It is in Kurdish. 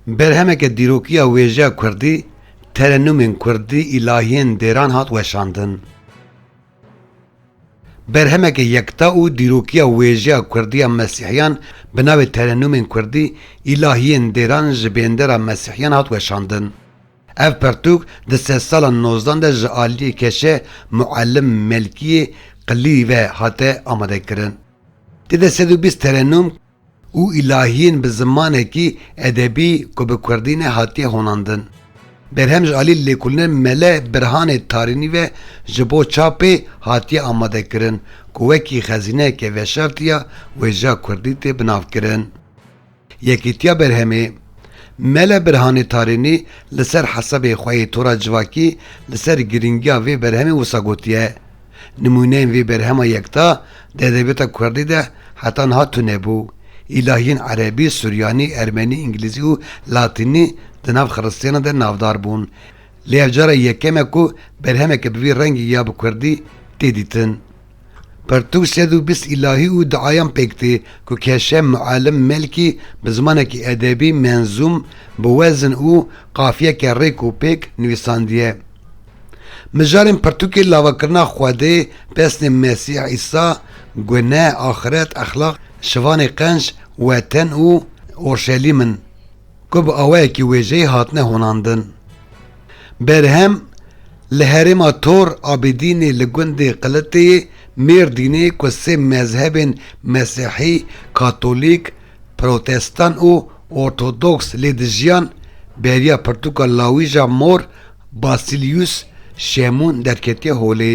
Berhemeke dîrokiya wêjeya kurdî, terenûmên kurdî, îlahiyên dêran hat weşandin. Berhemeke yekta û dîrokiya wêjeya kurdî ya mesîhiyan bi navê Terenûmên Kurdî, îlahiyên dêran ji bêndera mesîhiyan hat weşandin. Ev pirtûk di sedsalan nozdan de ji aliyê keşe Muellim Melkiyê Qilî ve hate amadekirin. Tê de sed û bîst terenum û îlahiyên bi zimanekî edebî ku bi kurdî ne hatiye honandin. Berhem ji aliyê lêkolîne Mele Birhanê Tarînî ve ji bo çapê hatiye amadekirin ku wekî xezîneyeke veşartî ya wêjeya kurdî tê binavkirin. Yekîtiya Berhemê, Mele Birhanê Tarînî li ser hesabê xwe yê tora civakî li ser girîngiya vê berhemê wisa gotiye, Nimûneyên vê berhema yekta di edebiyata kurdî de heta niha tunebû. Îlahiyên erebî, suryanî, ermenî, îngilîzî û latînî di nav xiristiyanan de navdar bûn. Lê ev cara yekem e ku berhemeke bi vî rengî ya bi kurdî tê dîtin. Pirtûk sed û bîst îlahî û diayan pêk tê ku Keşe Muallim Melkî bi zimanekî edebî, menzûm, bi wezin û qafiyeke rêk û pêk nivîsandiye. Mijarên pirtûkê lavakirina Xwedê, pesnê Mesîh Îsa, guneh, axiret, exlaq, şivanê qenc, weten û Orşelîm in. ku bi awayekî wêjeyî hatine honandin. Berhem li herêma Tor Abîdînê li gundê Qiliteyê, Mêrdînê ku sê mezhebên Mesîhî, Katolîk, Protestan û Ortodoks lê dijiyan, beriya pirtûka lawîja mor Basilius Şemûn derketiye holê.